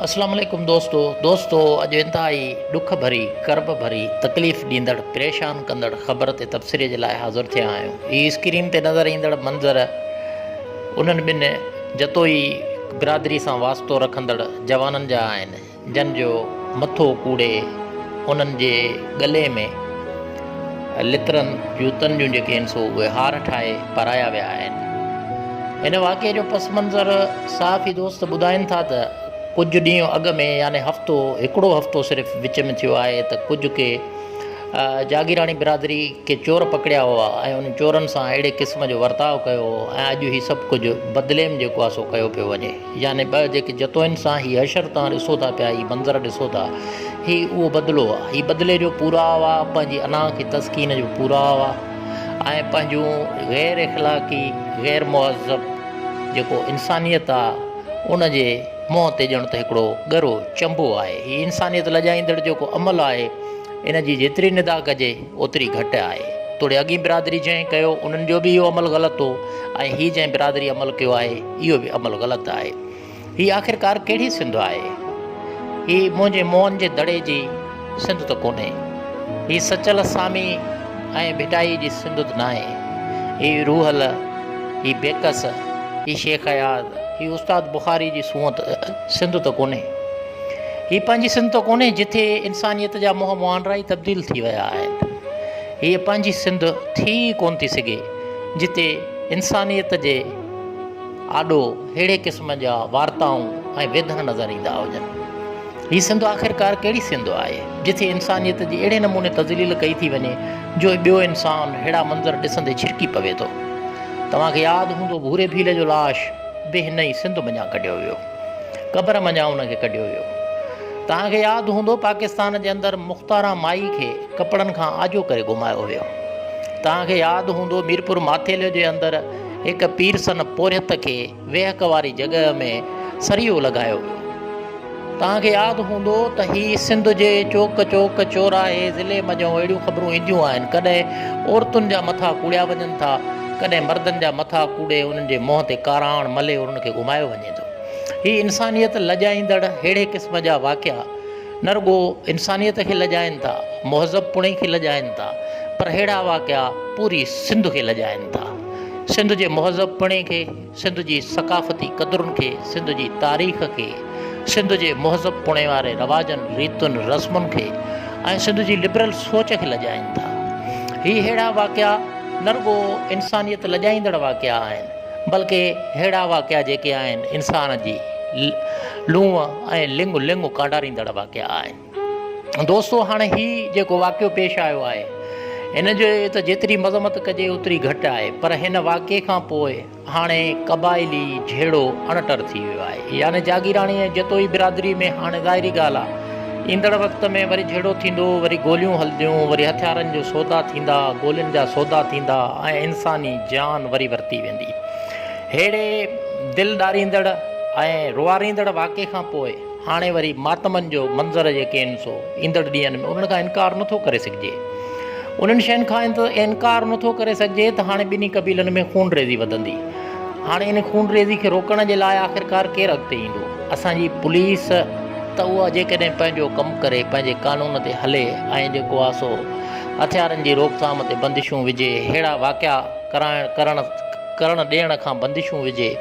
اسلام عليڪم دوستو دوستو اڄ انتهائي ڏک ڀري، ڪرب ڀري، تڪليف ڏيندڙ، پريشان ڪندڙ خبر تي تبصري جي لاء حاضر ٿيا آهيون. هي اسڪرين تي نظر ايندڙ منظر انهن ٻن جتوئي برادري سان واسطو رکندڙ جوانن جا آهن جن جو مٿو ڪوڙي انهن جي ڳلي ۾. لترن، جوتن جون جيڪي هن سو اهي هار ٺاهي پرايا ويا آهن. هن واقعي جو پس منظر صحافي دوست ٻڌائين ٿا ته ڪجهه ڏينهن اڳ ۾ يعني هفتو هڪڙو هفتو صرف وچ ۾ ٿيو آهي ته ڪجهه ڪي جاگيراڻي برادري ڪي چور پڪڙيا هئا ۽ انهن چورن سان اهڙي قسم جو ورتاء ڪيو هو ۽ اڄ هي سڀ ڪجهه بدليم جيڪو آهي سو ڪيو پيو وڃي. يعني ٻه جيڪي جتوئن سان هي حشر توهان ڏسو ٿا پيا، هي منظر ڏسو ٿا، هي اهو بدلو آ، هي بدلي جو پورائو آ، پنهنجي انا کي تسڪين جو پورائو آ ۽ پنهنجون غير اخلاقي، غير مهذب جيڪو انسانيت آ ان جي منهن تي ڄڻ ته هڪڙو ڳرو چنبو آهي. هي انسانيت لڄائيندڙ جيڪو عمل آهي، ان جي جيتري ندا ڪجي اوتري گهٽ آهي. توڙي اڳين برادري جنهن ڪيو انهن جو به اهو عمل غلط هو ۽ هي جنهن برادري عمل ڪيو آهي، اهو به عمل غلط آهي. هي آخرڪار ڪهڙي سنڌ آهي؟ هي منهنجي موهن جي دڙي جي سنڌ ته ڪونهي. هي سچل سامي ۽ ڀٽائي جي سنڌ ته ناهي. هي روحل، هي بيڪس، هي شيخ اياز، هي استاد بخاري جي سونهن سنڌ ته ڪونهي. هي پنهنجي سنڌ ته ڪونهي جتي انسانيت جا منهن مهانڊا ئي تبديل ٿي ويا آهن. هيء پنهنجي سنڌ ٿي ئي ڪونه ٿي سگهي جتي انسانيت جي آڏو ههڙي قسم جا وارتائون ۽ ويڌا نظر ايندا هجن. هي سنڌ آخرڪار ڪهڙي سنڌ آهي، جٿي انسانيت جي اهڙي نموني تذليل ڪئي ٿي وڃي جو ٻيو انسان ههڙا منظر ڏسندي ڇرڪي پوي ٿو. توهان کي ياد هوندو ڀوري ڀيل جو لاش به هن ئي سنڌ منجهان ڪڍيو ويو. قبر منجهان ان کي ڪڍيو ويو. توهان کي ياد هوندو پاڪستان جي اندر مختاران مائي کي ڪپڙن کان آجو ڪري گهمايو ويو. توهان کي ياد هوندو ميرپور ماٿيلي جي اندر هڪ پيرسن پورهيت کي ويهڪ واري جڳهه ۾ سريو لڳايو ويو. توهان کي ياد هوندو ته هي سنڌ جي چوڪ چوڪ، چوراهي، ضلعي منجهون اهڙيون خبرون اينديون آهن، ڪڏهن عورتن جا مٿا ڪوڙيا وڃن ٿا، ڪڏهن مردن جا مٿا ڪوڙي انهن جي منهن تي ڪاراڻ ملهي انهن کي گهمايو وڃي ٿو. هي انسانيت لڄائيندڙ ههڙي قسم جا واقعا، نه رڳو انسانيت کي لڄائين ٿا، مهذب پڻي کي لڄائين ٿا پر ههڙا واقعا پوري سنڌ کي لڄائين ٿا. سنڌ جي مهذب پڻي کي، سنڌ جي ثقافتي قدرن کي، سنڌ جي تاريخ کي، سنڌ جي مهذب پڻي واري رواجن، ريتن، رسمن کي ۽ سنڌ جي لبرل سوچ کي لڄائين ٿا. هي ههڙا واقعا نه رڳو انسانيت لڄائيندڙ واقعا آهن. بلڪ اهڙا واقعا جيڪي آهن انسان جي لونء ۽ لڱ لڱ ڪانڊاريندڙ واقعا آهن. دوستو هاڻ هي جيڪو واقعو پيش آيو آهي ان جي ته جيتري مذمت ڪجي اوتري گهٽ آهي پر هن واقعي کان پوء هاڻي قبائلي جهيڙو اڻٽر ٿي ويو آهي يعني جاگيراڻي ۽ جتوئي برادري ۾ هاڻي ظاهري ڳالهه آهي ايندڙ وقت ۾ وري جهيڙو ٿيندو، وري گوليون هلنديون، وري هٿيارن جو سودا ٿيندا، گولين جا سودا ٿيندا ۽ انساني جان وري ورتي ويندي. ههڙي دل ڏاريندڙ ۽ روئاريندڙ واقعي کان پوء هاڻي وري ماتمن جو منظر يقين سو ايندڙ ڏينهن ۾ انهن کان انڪار نه ٿو ڪري سگهجي. انهن شين کان انڪار نه ٿو ڪري سگهجي ته هاڻي ٻنهي قبيلن ۾ خونريزي وڌندي. هاڻي ان خونريزي کي روڪڻ جي لاء آخرڪار ڪير اڳتي ايندو؟ اسان جي پوليس ته اها جيڪڏهن پنهنجو ڪم ڪري، پنهنجي قانون تي هلي ۽ جيڪو آهي سو هٿيارن جي روڪٿام تي بندشون وجهي، ههڙا واقعا ڪرڻ ڪرڻ ڏيڻ کان بندشون وجهي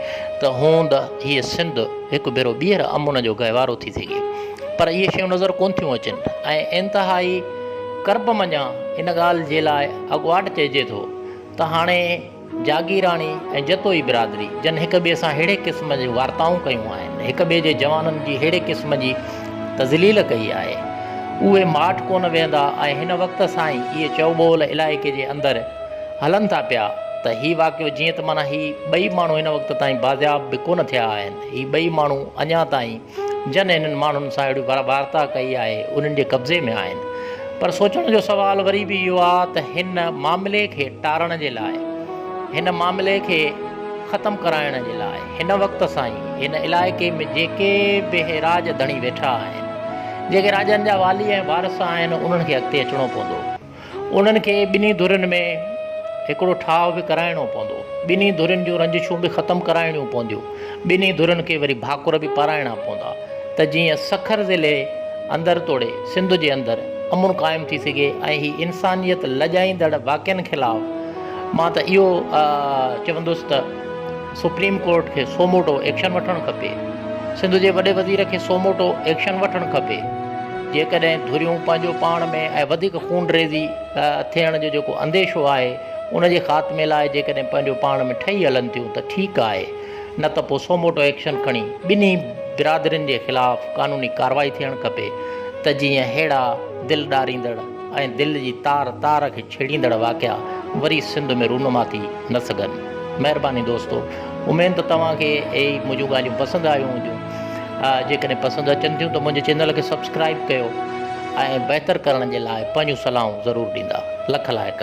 ته هوند هيء سنڌ هڪ ڀيرو ٻيهر امن جو گهيوارو ٿي سگهي. پر اهي شيون نظر ڪونه ٿيون اچن ۽ انتهائي ڪرب منجهان ان ڳالهه جي لاء اڳواٽ چئجي ٿو ته هاڻي، جاگيراڻي ۽ جتوئي برادري جن هڪ ٻئي سان ههڙي قسم جون وارتائون ڪيون آهن، هڪ ٻئي جي جوانن جي ههڙي قسم جي تذليل ڪئي آهي، اهي ماٺ ڪونه ويهندا ۽ هن وقت سان ئي اهي چئوٻول علائقي جي اندر هلن ٿا پيا ته هي واقعو جيئن ته معنيٰ هي ٻئي ماڻهو هن وقت تائين بازياب به ڪونه ٿيا آهن، هي ٻئي ماڻهو اڃا تائين. جن انهن ماڻهن سان اهڙي وارتا ڪئي آهي، انهن جي قبضي ۾ آهن. پر سوچڻ جو سوال وري به اهو آ ته هن معاملي کي ٽارڻ جي لاء، هن معاملي کي ختم ڪرائڻ جي لاء هن وقت سان ئي هن علائقي ۾ جيڪي به راڄ ڌڻي ويٺا آهن، جيڪي راڄن جا والي ۽ وارث آهن، انهن کي اڳتي اچڻو پوندو. انهن کي ٻنهي ڌرين ۾ هڪڙو ٺاهه به ڪرائڻو پوندو. ٻنهي ڌرين جون رنجشون به ختم ڪرائڻيون پونديون. ٻنهي ڌرين کي وري ڀاڪر به پارائڻا پوندا ته جيئن سکر ضلعي اندر توڙي سنڌ جي اندر امن قائم ٿي سگهي ۽ هي انسانيت لڄائيندڙ واقعن خلاف مان ته اهو چوندس ته سپريم ڪورٽ کي سوموٽو ايڪشن وٺڻ کپي، سنڌ جي وڏي وزير کي سوموٽو ايڪشن وٺڻ کپي، جيڪڏهن ڌريون پنهنجو پاڻ ۾ ۽ وڌيڪ خونريزي ٿيڻ جو جيڪو انديشو آهي ان جي خاتمي لاء جيڪڏهن پنهنجو پاڻ ۾ ٺهي هلن ٿيون ته ٺيڪ آهي نه ته پوء سوموٽو ايڪشن کڻي ٻنهي برادرين جي خلاف قانوني ڪارروائي ٿيڻ کپي ته جيئن ههڙا دل ڏاريندڙ ۽ دل جي تار تار کي ڇيڙيندڙ واقعا وري سنڌ ۾ رونما ٿي نه سگهن. مهرباني دوستو اميد ته توهان کي هي منهنجون ڳالهيون پسند آيون هونديون. جيڪڏهن پسند اچن ٿيون ته منهنجي چينل کي سبسڪرائيب ڪيو ۽ بهتر ڪرڻ جي لاء پنهنجون صلاحون ضرور ڏيندا. لک لائق.